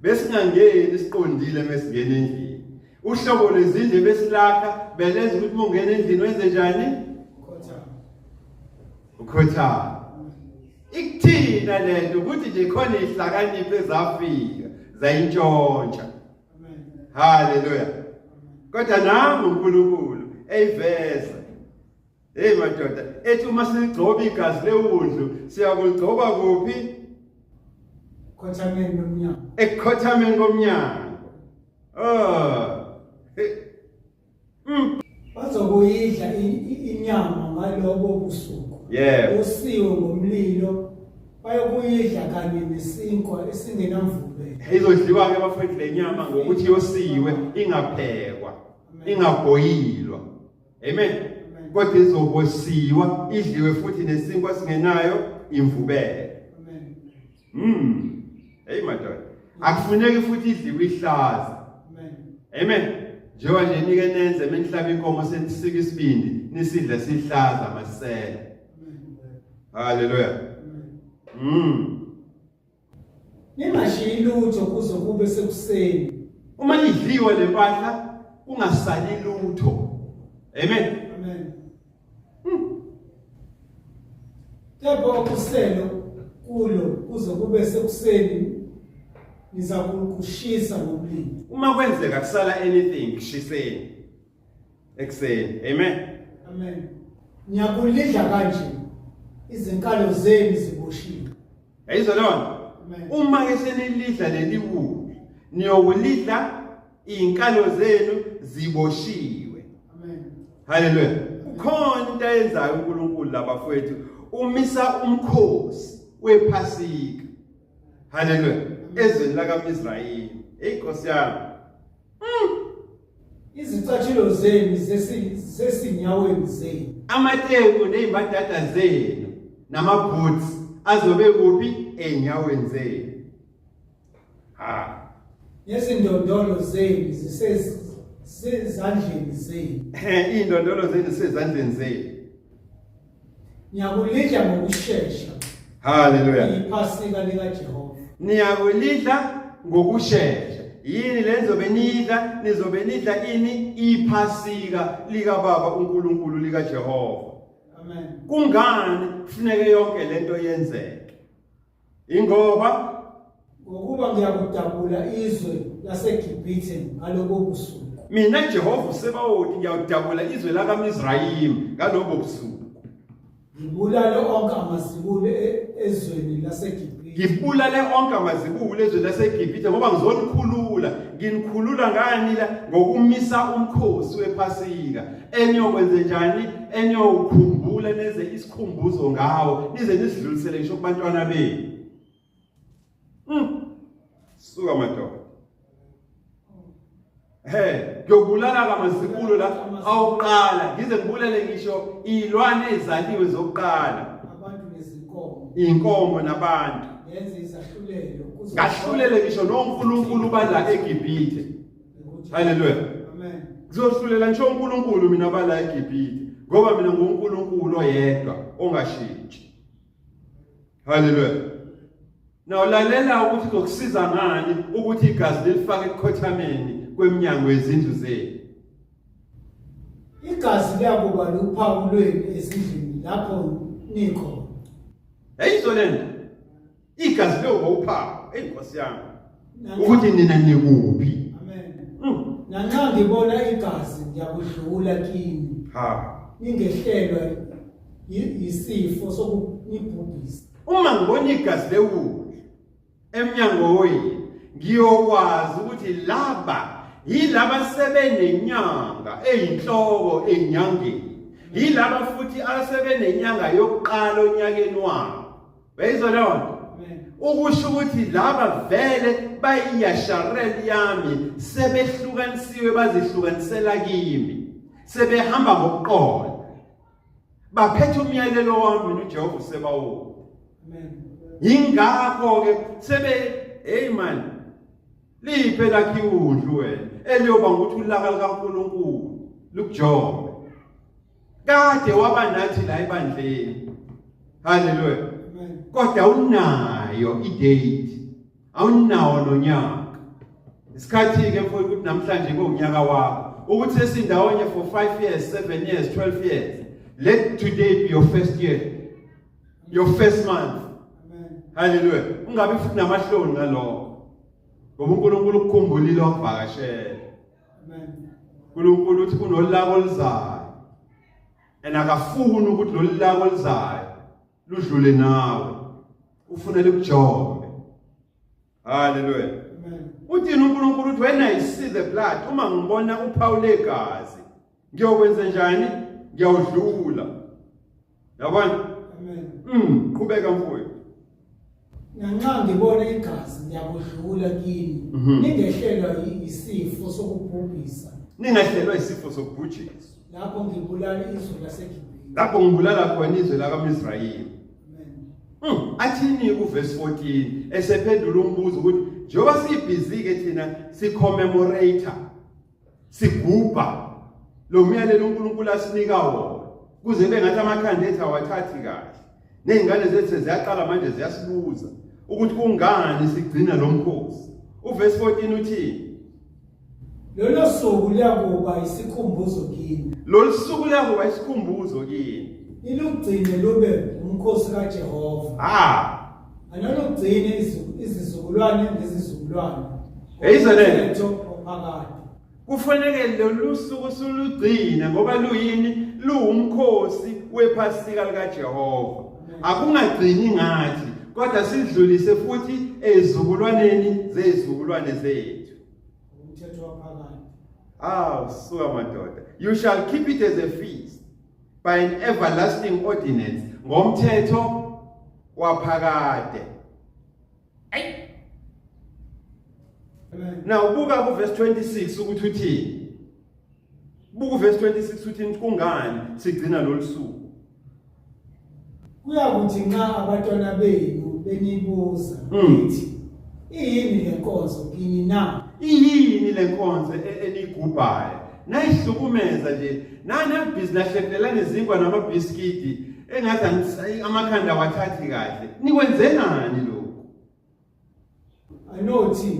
besingangeni siqondile mesingena endlini uhlobo lwezindlu besilakha belenza ukuthi uma ungena endlini wenze njani ukhothama ikuthina lento ukuthi nje khona ihlakaniphe zafika zayintshontsha haleluya kodwa nangu uNkulunkulu eyiveza Hey madoda, ethi uma siligcoba igazi lewundlu, siyakuligcoba kuphi? Khothameni komnyango. Ekhothameni komnyango. Ah. Mm. Bazokuyidla inyama ngalobo busuku. Yebo. Usiwe ngomlilo. Bayokuyidla kanye nesinkwa esingenamvube. Izodliwa ke bafethu lenyama ngokuthi yosiwe ingaphekwa, ingabhoyilwa. Amen. Kodwa izokwesiwa idliwe futhi nesinkwa singenayo imvubele. Amen. Mm. Hey madoda. Akufuneki futhi idliwe ihlaza. Amen. Amen. Njengoba nje nike nenze menihlaba inkomo senisika isibindi nisidle sihlaza masela. Hallelujah. Mm. Ningashiyi lutho kuze kube sekuseni. Uma nidliwe le mpahla kungasali lutho. Amen. Amen. Kepha hmm. ukuselo kulo kuze kube sekuseni nizakukushisa ngomlilo. Uma kwenzeka kusala anything shiseni. ekuseni amen amen ngiyakulidla kanje izinkalo zenu ziboshiwe yayizwa lona uma ke senilidla leli wulu niyokulidla izinkalo zenu ziboshiwe amen haleluya ukhona into ayenzayo uNkulunkulu labafowethu umisa umkhosi wephasika haleluya ezweni lakaMisrayeli hey Nkosi yami izicatshilo zenu zesi- zesinyaweni zenu amateku nezimbadada zenu namaboots azobe kuphi ezinyaweni zenu ha nezindondolo zenu zisezandleni zenu Eh, iy'ndondolo zenu sezandleni zenu Ngiyakulidla ngokushesha. Hallelujah. Iphasika lika Jehova. Niyakulidla ngokushesha. Yini lenzobe nidla nizobe nidla ini iphasika lika baba uNkulunkulu lika Jehova. Amen. Kungani kufuneke yonke lento yenzeke? Ingoba ngokuba ngiyakudabula izwe laseGibhithe ngalobo busuku. Mina Jehova uSebawoti ngiyawudabula izwe lakaMizrayimi ngalobo busuku. Ngibulale onke amazibulo e- ezweni laseGibhithe. Ngibulale onke amazibulo ezweni laseGibhithe ngoba ngizonikhulula. Nginikhulula ngani la ngokumisa umkhosi wePhasika. eniyokwenze njani eniyokhumbula neze isikhumbuzo ngawo nize nisidlulisele ngisho kubantwana benu mm. suka madoda he ngiyobulala kamazibulo la awuqala ngize ngibulele ngisho izilwane ezaliwe zokuqala abantu nezinkomo inkomo nabantu yenze izahlulelo ngahlulele ngisho noNkulunkulu bala eGibhithe haleluya kuzohlulela ngisho unkulunkulu mina abala egibhithe ngoba mina ngunkulunkulu oyedwa ongashintshi haleluya Now lalela ukuthi kokusiza ngani ukuthi igazi lifake ekhothameni kweminyango yezindlu zenu. Igazi liyakuba luphawu lwenu ezindlini lapho nikho. Hey izolento. igazi leyo ngowuphawu eyi nkosi yami ukuthi nina nikuphi nanxa ngibona igazi ngiyakudlula kini ha ningehlelwa yisifo sokunibhubhisa uma ngibona igazi lewulu emnyango wenu ngiyokwazi ukuthi laba yilaba sebenenyanga eyinhloko enyangeni yilaba futhi asebenenyanga yokuqala onyakeni wabo Beyizwa leyo nto. Ukusho ukuthi laba vele bayiyasharel yami sebehlukanisiwe bazihlukanisela kimi. Sebehamba ngokuqola. Baphethe umyalelo wami noJehova usebawo. Amen. Yingakho ke sebe hey man liphe lakhe udlu wena eliyoba ukuthi ulaka likaNkulunkulu lukujobe kade waba nathi la ebandleni haleluya kodwa unayo idate awunawo nonyaka isikhathi ke mfowethu ukuthi namhlanje kuwunyaka wakho ukuthi sesindawonye for 5 years 7 years 12 years let today be your first year your first month amen haleluya ungabe futhi namahloni ngalokho ngoba uNkulunkulu ukukhumbulile wakuvakashela uNkulunkulu uthi kunolaka oluzayo and akafuni ukuthi lolu laka oluzayo ludlule nawe ufuna likujombe haleluya uthini uNkulunkulu uthi when i see the blood uma ngibona uphawu legazi ngiyokwenza njani ngiyawudlula yabona amen mm qhubeka mfowethu nanxa ngibona igazi ngiyakudlula kini mhm. ningehlelwa yisifo sokubhubhisa ningehlelwa yisifo sokubhujisa lapho ngibulala izwe laseGibhithe lapho ngibulala khona izwe lakaMisrayeli hmm, athini kuverse 14 esephendula umbuzo ukuthi njengoba sibhizi ke thina sicommemorator sigubha lo myalelo uNkulunkulu asinika wona kuze bengathi amakhanda ethu awathathi kahle nezingane zethu ziyaqala manje ziyasibuza ukuthi kungani sigcina lo mkhosi uvesi 14 uthini lolo suku liyakuba isikhumbuzo kini lolu suku liyakuba isikhumbuzo kini nilugcine lube umkhosi kaJehova ah anonokugcina izizukulwane ngezizukulwane eyizeleleto ophakade kufanele lolu suku sulugcine ngoba luyini luwumkhosi wephasika likaJehova akungagcini ngathi kodwa sidlulise futhi ezizukulwaneni zezizukulwane zethu umthetho waphakade aw suka madoda you shall keep it as a feast by an everlasting ordinance ngomthetho waphakade ayi na ubuka ku verse 26 ukuthi uthini buku verse 26 uthini kungani sigcina lolusuku Kuyakuthi nxa abatwana benu benibuza Mm. nithi iyini le nkonzo kini na? iyini le nkonzo e- eniyigubhayo nayihlukumeza nje nanabhizi nahlekelelana izinkwa namabhiskidi engathi angis- ayi, amakhanda awathathi kahle nikwenzenani lokhu anothi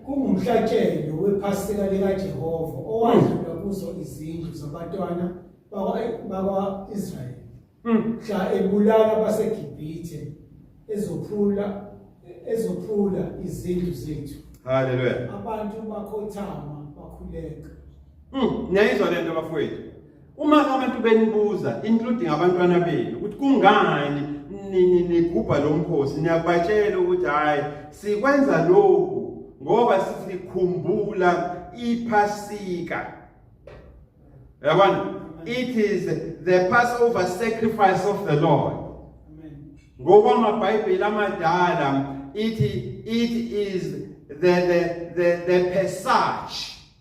kungumhlatshelo wephasika likaJehova owadlula kuzo izindlu zabatwana bakwa-israyeli hmm. mhla ebulala abaseGibhithe ezophula ezophula izindlu zethu haleluya abantu bakhothama bakhuleka hmm. niyayizwa le nto bafowethu Uma abantu benibuza including abantwana benu ukuthi kungani nigubha lo mkhosi niyakubatshela ukuthi hhayi sikwenza lokhu ngoba sikhumbula iphasika yabona it is the passover sacrifice of the lord ngokwamabhayibheli amadala ithi it is the the the, the passage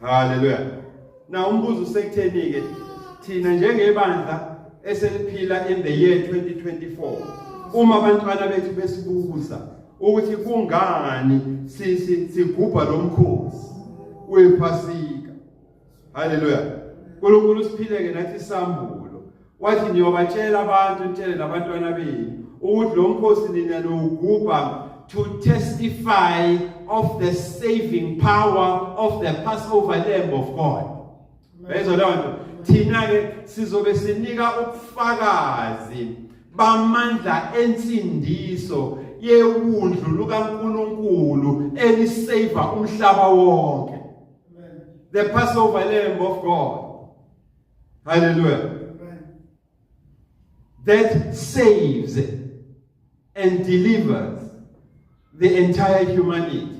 Haleluya. Na umbuzo usekutheni ke thina njengebandla eseliphila in the year 2024 uma abantwana bethu besibuza ukuthi kungani sisi sigubha lomkhosi wephasika haleluya unkulunkulu usiphileke nathi isambulo wathi niyobatshela abantu nitshele nabantwana benu ukuthi lo mkhosi nina nowugubha to testify of the saving power of the passover lamb of god bezwa leyo nto thina ke sizobe sinika ubufakazi bamandla ensindiso yewundlu lukaNkuluNkulu elisave umhlaba wonke The Passover Lamb of God. Hallelujah. That saves and delivers the entire humanity.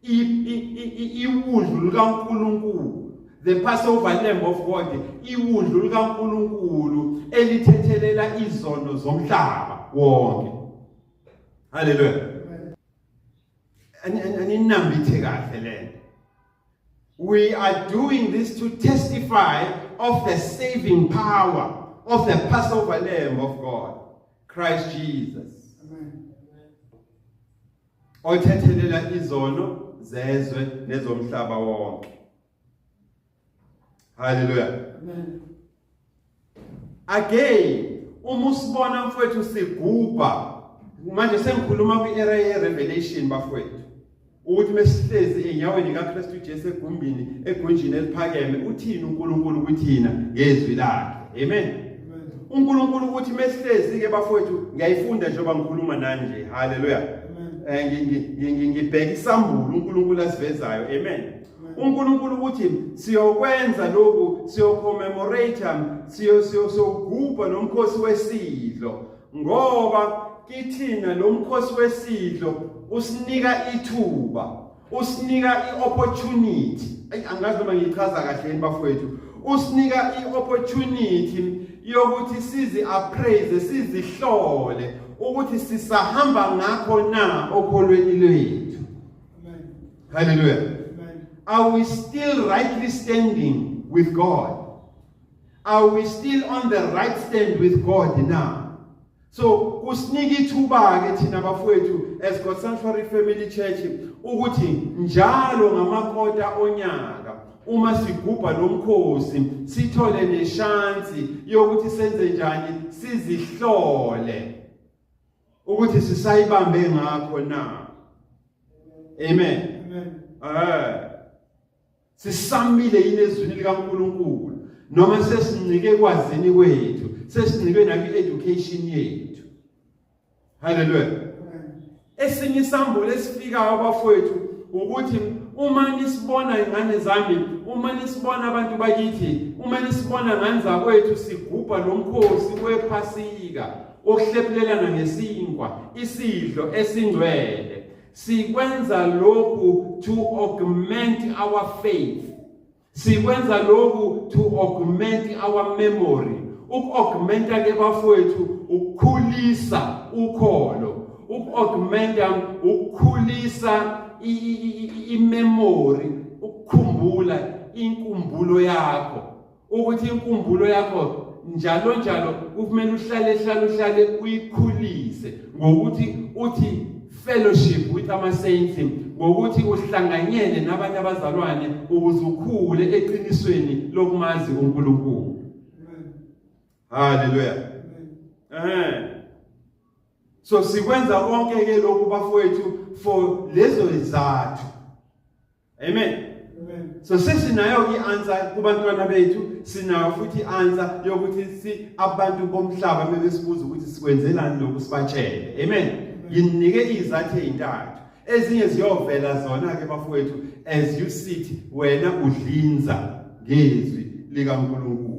Iwundlu likaNkulunkulu the Passover Lamb of God iwundlu likaNkulunkulu elithethelela izono zomhlaba wonke. Hallelujah. aninambithe kahle lento we are doing this to testify of the saving power of the passover lamb of god christ jesus othethelela izono zezwe nezomhlaba wonke Hallelujah. Amen. Again, uma usibona mfowethu sigubha manje sengikhuluma kwi-era ye-revelation bafowethu ukuthi mesihlezi enyaweni kaKristu Jesu egumbini egunjini eliphakeme uthini uNkulunkulu kuthina ngezwi lakhe amen uNkulunkulu ukuthi mesihlezi ke bafowethu ngiyayifunda njengoba ngikhuluma nani nje haleluya eh, ngibheka isambulo uNkulunkulu asivezayo amen uNkulunkulu uthi siyokwenza lokhu siyocommemorate siyo siyogubha nomkhosi wesidlo ngoba kithina lo mkhosi wesidlo usinika ithuba usinika i-opportunity angazi noma ngiyichaza kahle yini bafowethu usinika i-opportunity yokuthi sizi-appraise sizihlole ukuthi sisahamba ngakho na okholweni lwethu Hallelujah. Are we still rightly standing with God? Are we still on the right stand with God now? So kusinika ithuba ke thina bafowethu as God Sanctuary Family Church ukuthi njalo ngamakota onyaka uma sigubha lomkhosi sithole neshansi yokuthi senze njani sizihlole ukuthi sisayibambe ngakho na amen amen eh sisamile yini ezwini likaNkuluNkulu noma sesincike kwazini kwethu sesincike nakwi education yethu haleluya esinye isambulo esifikayo abafowethu ukuthi uma nisibona ingane zami uma nisibona abantu bakithi uma nisibona ngane zakwethu sigubha lomkhosi wephasika Ukuhlephulelana ngesinkwa isidlo esingcwele sikwenza lokhu to augment our faith sikwenza lokhu to augment our memory uku-augmenta ke bafowethu ukukhulisa ukholo uku-augmenta ukukhulisa imemory ukukhumbula inkumbulo yakho ukuthi inkumbulo yakho njalo njalo kufanele uhlale hlale uhlale uyikhulise ngokuthi uthi fellowship with ama saints ngokuthi uhlanganyele nabanye abazalwane ukuze ukhule eqinisweni lokumazi uNkulunkulu haleluya eh so sikwenza konke ke lokhu bafowethu for lezo izathu Amen. so sesinayo i-answer kubantwana bethu sinayo futhi i-answer yokuthi si abantu bomhlaba mebesibuza ukuthi sikwenzelani lokhu sibatshele amen nginike izathu ezintathu ezinye ziyovela zona ke bafowethu as you sit wena udlinza ngezwi likaNkulunkulu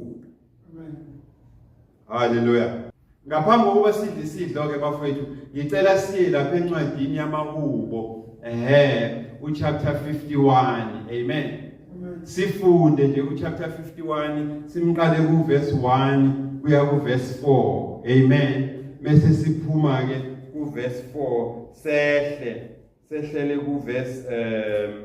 Haleluya. Ngaphambi kokuba sidle isidlo ke bafowethu, ngicela siye lapha encwadini yamahubo. Ehhe, uchapter 51. Amen. Sifunde nje uchapter 51, simqale kuverse 1 kuya kuverse 4. Amen. Mese siphuma ke kuverse 4 sehle sehlele kuverse um